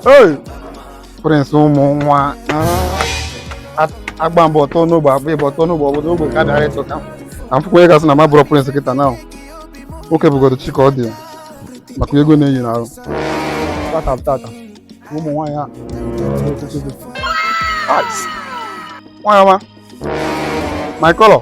Hey, Prince ụmụ nwa agba mbọ tụọ n'ogbe agba ịbọ tụọ n'ogbe obodo ogbe ka dara ịtụ ka m fụkwa onye ga-asị na m abụrọ Prince kịta na nwoke bụgodo chi ka ọ dị maka ego na-eyi n'ahụ tata tata ụmụ nwaanyị a nwaanyị ọma my color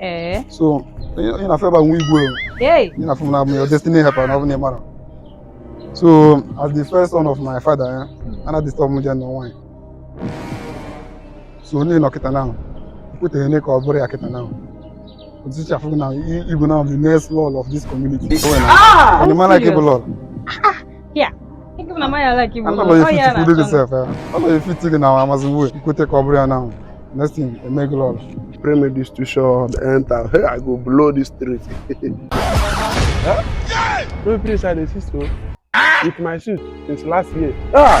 ee so ị na-afụ ebe nwa igwe ị na-afụ m na your destiny helper na ọ bụ na ị mara so as the first son of my father ya eh, ana disturb m jee nụọ nwaanyị so onye nọ kịta ahụ kwutere ne ka ọ bụrụ ya kịta ahụ otuchi afụ na igwe na the next lọlọ of this community. Ah, and the man like ịbụ lọlọ. ya Ego na maya like ịbụ. Ana m efiti kudo gị sef. Ana m efiti gị na Amazon Way. Ị kwete ka ọ bụrụ ya na next thing e mee gị lọlọ. Pray make this too short enter. Hey, I go blow this street. No place I dey see so. With my suit since last year. Ah!